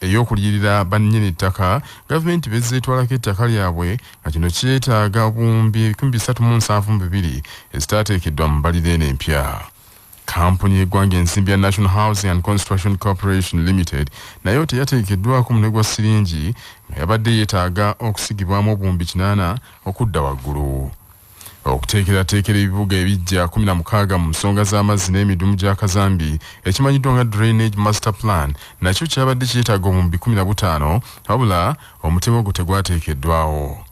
ey'okuliyirira bannyini ttaka gavumenti bezze etwalako ettaka lyabwe nga kino kyetaaga obuwumbi ebikumi bisatu mu nsanvu mu bibiri ezitaateekeddwa mu mbalira eno empya kampuni y'eggwanga ensimbi ya national housing and construction corporation limited nayo teyateekeddwako mune gwa siringi nga yabadde yeetaaga okusigibwamu obuwumbi kinaana okudda waggulu okuteekerateekera ebibuga ebiggya kumi na mukaaga mu nsonga z'amazzi n'emidumu gya kazambi ekimanyiddwa nga drainage master plan nakyo kyabadde kyetaaga omumbi kumi na butaano wabula omutemu ogwo tegwateekeddwawo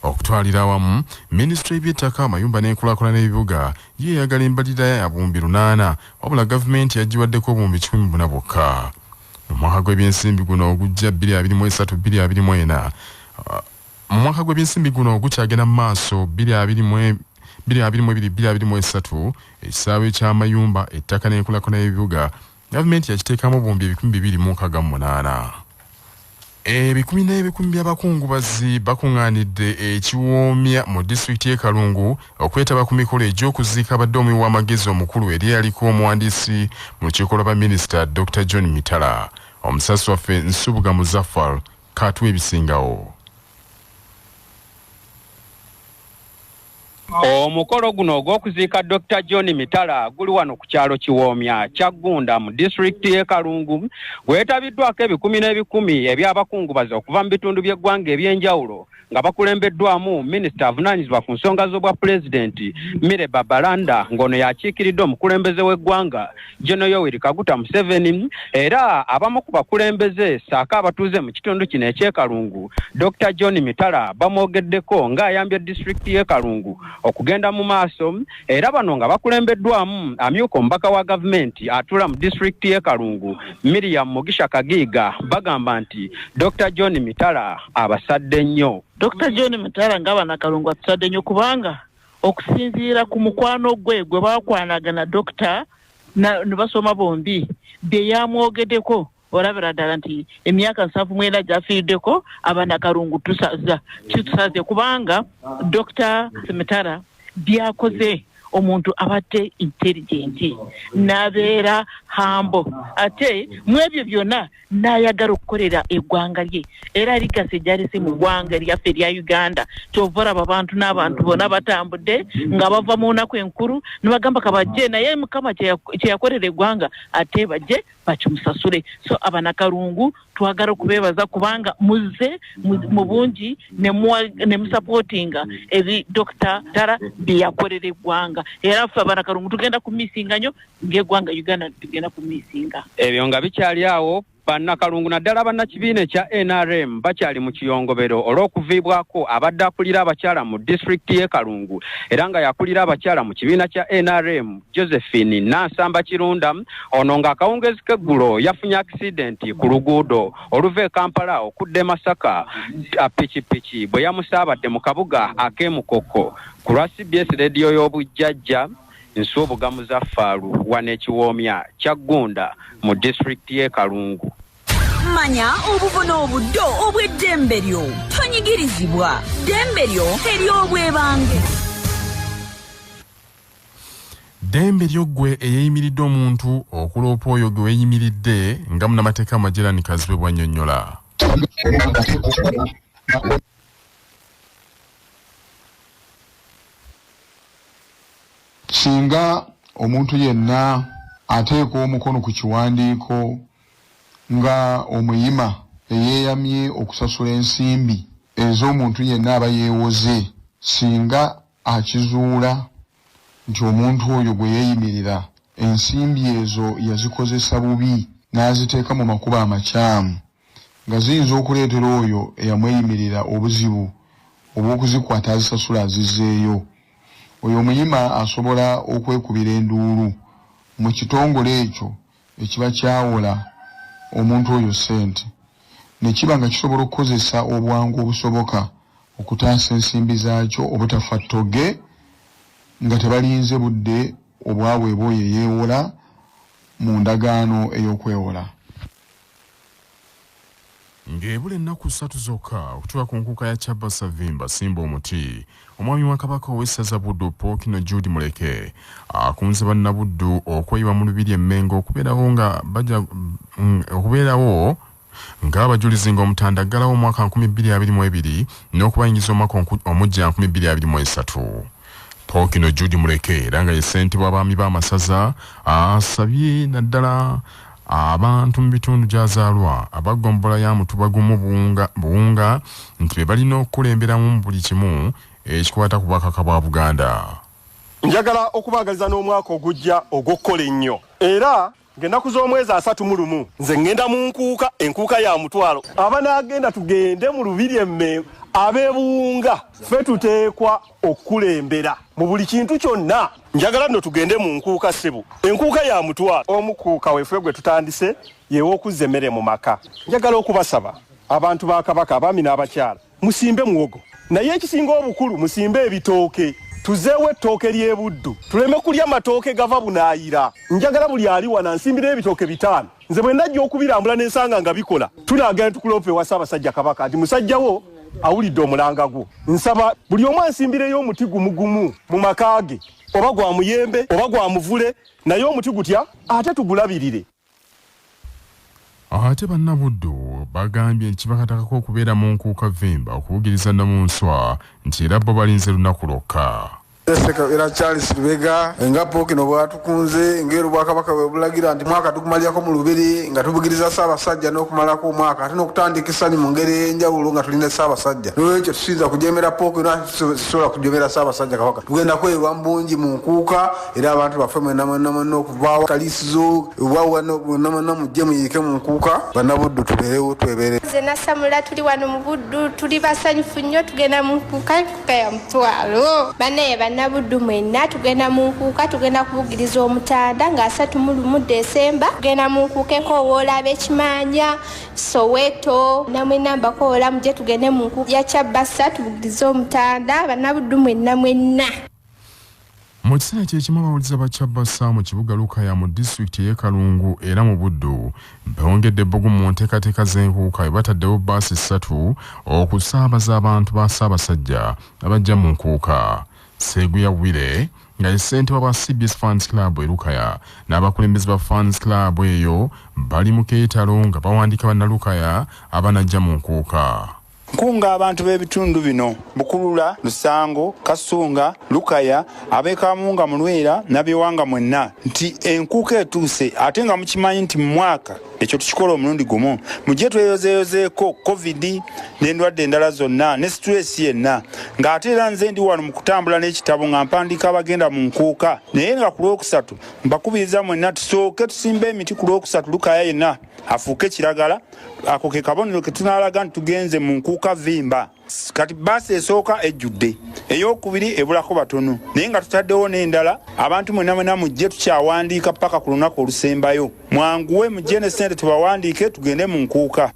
okutwalira awamu minisitule y'ebyettaka amayumba n'enkulakulana ebibuga ye eyagala embalirira ya buwumbi lunaana wabula gavumenti yagiwaddeko obuwumbi kikumi buna bwokka mu mwaka gw'ebyensimbi guno ogujja 223 224 Mu mwaka gw'ebyensimbi guno ogukyagenda mu maaso bbiri abiri mu e-, bbiri abiri mu ebiri bbiri abiri mu esatu ekisaawe ky'amayumba ettaka n'enkulaakulana y'ebibuga gavumenti yakiteekamu obuwumbi ebikumi bibiri mu nkaaga mu munaana ebikumi n'ebikumi by'abakungubazi bakuŋŋaanidde ekiwoomya mu disitulikiti y'e kalungu okwetaba ku mikolo egy'okuziika abadde omuwi w'amagezi omukulu eri eyaliko omuwandiisi mu lukiiko lwa baminisita dr john mitala omusasi waffe nsubuga muzaffar Kaatuwe ebisingawo. Omukolo guno ogw'okuziika Dokita John Mitala guli wano ku kyalo Kiwoomya Kyaggunda mu disitulikiti y'e Kalungu gwetabiddwako ebikumi n'ebikumi eby'abakungubazi okuva mu bitundu by'eggwanga eby'enjawulo nga bakulembeddwamu minisita avunaanyizibwa ku nsonga z'obwa pulezidenti mire babalanda ng'ono yakiikiridde omukulembeze w'eggwanga geno yoweri kaguta museveni era abamu ku bakulembeze saako abatuuze mu kitundu kino ekyekalungu dr john mitala bamwogeddeko ng'ayambye disitulikiti y'ekalungu okugenda mu maaso era bano nga bakulembeddwamu amyuka omubaka wa gavumenti atula mu disitulikiti y'e kalungu miriam mugisha kagiiga bagamba nti dr john mitala abasadde nnyo dr john mitala nga banakalungu atusadde nnyo kubanga okusinziira ku mukwano gwe gwe bakwanagana dokita ne basoma bombi bye yamwogedeko olabira ddala nti emyaka nsanvu mwena gyafiiriddeko abaana kalungu tusaza kitusaze kubanga dokita semitara byakoze omuntu abadde intelligenti n'abeera hambo ate mu ebyo byonna n'ayagala okukolera eggwanga lye era ligasi gyalese mu ggwanga lyaffe erya uganda kyova olaba abantu n'abantu bona batambudde nga bava mu nnaku enkulu ne bagamba kabajje naye mukama kye yakolera eggwanga ate bajje bakimusasule so abanakalungu twagala okubebaza kubanga muze mu bungi nemusapotinga eri dokita dara byeyakolera eggwanga era ffe abanakalungu tugenda ku misinga nyo ngaeggwanga uganda tugenda ku misinga ebyo nga bikyali awo bannakalungu naddala bannakibiina ekya nrm bakyali mu kiyongobero olw'okuviibwako abadde akulira abakyala mu disitulikiti y'e kalungu era nga yakulira abakyala mu kibiina kya nrm Josephine Nansamba Kirunda ono nga akawungeezi k'eggulo yafunye akisidenti ku luguudo oluva e Kampala okudda e Masaka pikipiki bwe yamusaabadde mu kabuga ak'e Mukoko ku lwa CBS leediyo y'obujjajja Nsubuga Muzaffaalu wano ekiwoomya Kyaggunda mu disitulikiti y'e Kalungu. Manya obuvuna obuddo obw'eddembe lyo tonyigirizibwa ddembe lyo ery'obwebange. ddembe lyo ggwe eyeeyimiridde omuntu okuloopa oyo gwe weeyimiridde nga munamateeka majerani kazibe bwannyonnyola singa omuntu yenna ateeka omukono ku kiwandiiko nga omuyima eyeeyamye okusasula ensimbi ez'omuntu yenna aba yeewoze singa akizuula nti omuntu oyo gwe yeeyimirira ensimbi ezo yazikozesa bubi n'aziteeka mu makubo amakyamu nga ziyinza okuleetera oyo eyamweyimirira obuzibu obw'okuzikwata azisasule azizzeeyo, oyo omuyima asobola okwekubira enduulu mu kitongole ekyo. ekiba kyawola omuntu oyo ssente ne kiba nga kisobola okukozesa obwangu obusoboka okutaasa ensimbi zaakyo obutafa ttoge nga tebalinze budde obwaweebwa oyo eyeewola mu ndagaano ey'okwewola. Ng'ebula ennaku ssatu zokka okutuuka ku nkuuka ya Kyabba Savimba Simba Omuti, omwami wa Kabaka ow'essaza Buddu Pookino Jude Muleke akunze Bannabuddu okweyiwa mu Lubiri e Mmengo okubeerawo nga baja mm, okubeerawo ng'abajulizi ng'Omutanda aggalawo omwaka 2022 n'okubayingiza omwaka omujja 2023. Pookino Jude Muleke era nga ye ssentebe w'abaami b'amasaza asabye naddala Abantu mu bitundu gy'azaalwa aba ggombolola ya Mutuba gumu Buwunga, Buwunga nti be balina okukulemberamu mu buli kimu ekikwata ku Bwakabaka bwa Buganda. Njagala okubaagaliza n'omwaka ogujja ogw'okukola ennyo era ng'ennaku z'omwezi asatu mu lumu nze ŋŋenda mu nkuuka, enkuuka ya mutwalo. Abanaagenda tugende mu Lubiri e Mmengo, ab'e Buwunga ffe tuteekwa okukulembera mu buli kintu kyonna. njagala nno tugende mu nkuuka ssebo enkuuka ya mutwalo omukuuka wefe gwe tutandise yew'okuzza emmere mu maka njagala okubasaba abantu ba kabaka abaami n'abakyala musimbe muwogo naye ekisinga obukulu musimbe ebitooke tuzeewo ettooke ly'ebuddu tuleme kulya matooke gava bunaayira njagala buli ali wana nsimbira ebitooke bitaano nze bwe ndajja okubirambula ne nsanga nga bikola tunaagala ne tukuloopa ewa ssaabasajja kabaka nti musajja wo awulidde omulanga gwo nsaba buli omu ansimbireyo omuti gumugumu mu maka ge oba gwa muyembe oba gwa muvule naye omuti gutya ate tugulabirire ate bannabuddu bagambye nti kibakatakako okubeera mu nkuuka vimba okubugiriza namunswa nti era bo balinze lunaku lwokka Ssekabira Charles Lubega nga Pookino bw'atukunze ng'era Obwakabaka bwe bulagira nti mwaka tugumalirako mu Lubiri nga tubugiriza Ssaabasajja n'okumalako omwaka ate n'okutandika essanyu mu ngeri ey'enjawulo nga tuli ne Ssaabasajja. N'olwekyo tusinza kujeemera Pookino ate tusobola kujeemera Ssaabasajja Kabaka. Tugenda kweyiwa mu bungi mu Nkuuka era abantu baffe mwenna mwenna mwenna okuva wa Kaliisizo oba wano mwenna mwenna mujje muyiike mu Nkuuka Bannabuddu tubeerewo twebeereko. Nze Nassamula tuli wano mu Buddu tuli basanyufu nnyo tugenda mu Nkuuka. ya mutwalo banaye bannabuddu mwenna tugenda mu nkuuka tugenda kubugiriza omutanda nga asatu mu lumu desemba tugenda mu nkuuka enkowoola ab'ekimanya soweto namwenna mbakoola muje tugende mu nkuuka ya kyabasa tubugirize omutanda bannabuddu mwenna mwenna Mu kiseera kye kimu abawulize ba Kyabasa mu kibuga Lukaya mu disitulikiti ey'e Kalungu era mu Buddu bongedde ebbugumu mu nteekateeka z'enkuuka bwe bataddewo bbaasi ssatu okusaabaza abantu ba Ssaabasajja abajja mu nkuuka. Seguya Wire nga ye ssentebe wa CBS Fans Club e Lukaya n'abakulembeze ba Fans Club eyo bali mu keetalo nga bawandiika bannalukaya abanajja mu nkuuka. Nkunga abantu b'ebitundu bino Bukulula, Lusango, Kasunga, Lukaya, ab'Ekamunga, Mulwera, Nabyewanga mwenna nti enkuuka etuuse ate nga mukimanyi nti mu mwaka ekyo tukikola omulundi gumu mujje tweyozeeyozeeko covid n'endwadde endala zonna ne situleesi yenna ng'ate era nze ndi wano mu kutambula n'ekitabo nga mpandiika abagenda mu nkuuka naye nga ku lwokusatu mbakubiriza mwenna tusooke tusimba emiti ku lwokusatu Lukaya yenna afuuke kiragala ako ke kabonero ke tunalaga nti tugenze mu nkuuka vimba kati baasi esooka ejjudde eyokubiri ebulako batono naye nga tutaddewo n'endala abantu mwena mwena mujje tukyawandiika paka ku lunaku olusembayo mwanguwe mujje ne sente tubawandiike tugende mu nkuuka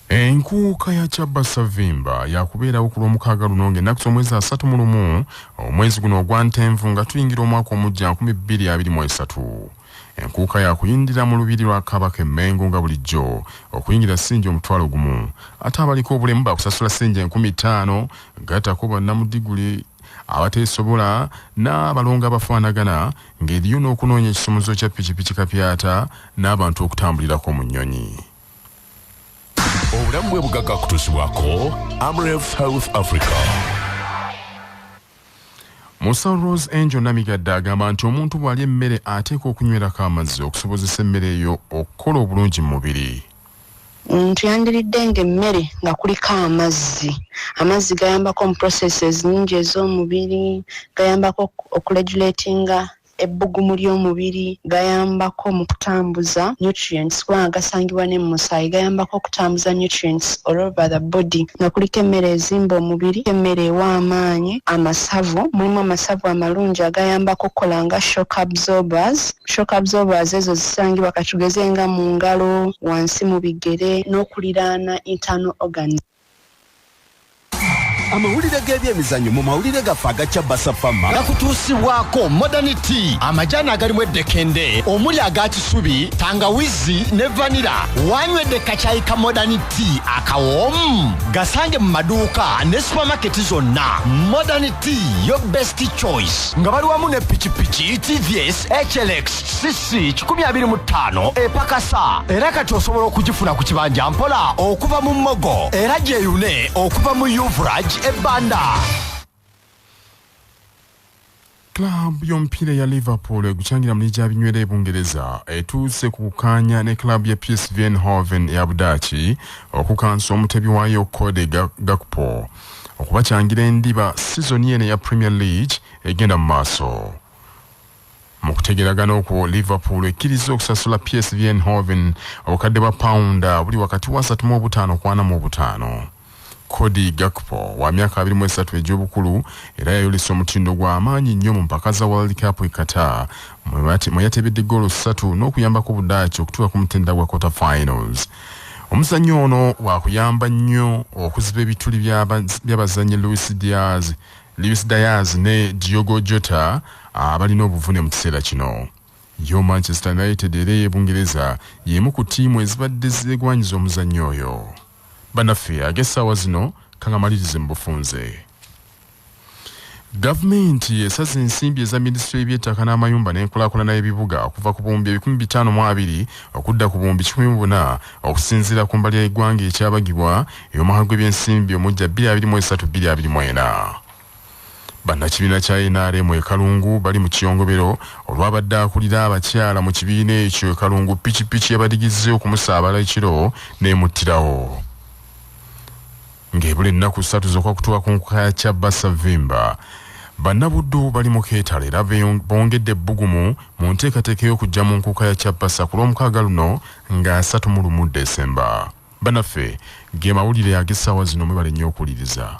enkuuka ya kyabba savimba yakubeerawo ku lwomukaaga luno ng'ennaku z'omwezi asatu mu lumu omwezi guno ogwa ntenvu nga tuyingira omwaka omujja 2023 enkuuka yakuyindira mu lubiri lwa kabaka emmengo nga bulijjo okuyingira ssinja omutwalo gumu ate abaliko obulemu bakusasula ssinja enkumi ttaano gattako bannamudiguli abateesobola n'abalongo abafaanagana ng'eriyo n'okunoonya ekisumuzo kya pikipiki kapyata n'abantu okutambulirako mu nnyonyi obulamu bwe bugagga kutuusibwako amref health africa musa rose angel namigadde agamba nti omuntu bw'alya emmere ateekwa okunywerako amazzi okusobozesa emmere eyo okukola obulungi mu mubiri Omuntu yandiriddenga emmere nga kuliko amazzi. Amazzi gayambako mu processes nyingi ez'omubiri, gayambako okuregulatinga ebbugumu ly'omubiri, gayambako mu kutambuza nutrients kubanga gasangibwa ne mu musaayi, gayambako okutambuza nutrients all over the body nga kuliko emmere ezimba omubiri, emmere ewa amaanyi, amasavu, mulimu amasavu amalungi agayambako okukola nga shock absorbers, Shock absorbers ezo zisangibwa katugeze nga mu ngalo, wansi mu bigere n'okuliraana internal organs. amawulire g'ebyemizanyo mu mawulire gaffe agakya basafama gakutuusibwako modern tea amajaani agalimu eddekende omuli aga kisubi tangawizi ne vanira wanywedde kakyayi ka modern tea akawoomu gasange mu maduuka ne supamaketi zonna modern tea yo best choice nga bali wamu ne pikipiki tvs hlx cc 25 epakasa era kati osobola okugifuna ku kibanja mpola okuva mu mogo era gyeyune okuva mu uvraj ebanda club y'omupiira ya liverpool egucangira mu ligi ya binywera ebungereza etuuse ku kukaanya ne club ya psv enhoven ya budaaki okukansa omutebi waayo kode gakpo okubakyangira endiba sizoni eno eya premier league egenda mu maaso mu kutegeragana okwo liverpool ekkiriza okusasula psv enhoven obukadde bwa pawunda buli wakati wa 3 mu obutaano kwana mu obutaano cody gakpo wa myaka 23 egy'obukulu era yayolesa omutindo gw'amaanyi nnyo mu mpaka za world cup e qatar mwe yatebedde goolo ssatu n'okuyambako budaaki okutuuka ku mutenda gwa quarter finals Omuzannyo ono wakuyamba nnyo okuziba ebituli by'abazannyi Luis Diaz, Luis Diaz ne Diogo Jota abalina obuvune mu kiseera kino. Yo Manchester United era ey'e Bungereza y'emu ku ttiimu ezibadde zeegwanyiza omuzannyo oyo. Banaffe ag'essaawa zino kangamalirize mu bufunze. Gavumenti esaze ensimbi eza minisitule y'ebyettaka n'amayumba n'enkulaakulana y'ebibuga okuva ku buwumbi ebikumi bitaano mu abiri okudda ku buwumbi kikumi mu buna okusinziira ku mbalira y'eggwanga ekyabagibwa ey'omwaka gw'ebyensimbi omujja bbiri abiri mu esatu bbiri abiri mu ena. Bannakibiina kya NRM e Kalungu bali mu kiyongobero olwabadde akulira abakyala mu kibiina ekyo e Kalungu pikipiki yabadigizze okumusaabala ekiro n'emuttirawo. Ng'ebula ennaku ssatu zokka kutuwa ku nkuka ya Kyabba Savimba, Bannabuddu bali mu keetalo era bongedde ebbugumu mu nteekateeka y'okujja mu nkuuka ya Kyapasa ku lw'omukaaga luno nga asatu mu lumu Desemba. Banaffe ge mawulire ag'essaawa zino mwebale nnyo okuwuliriza.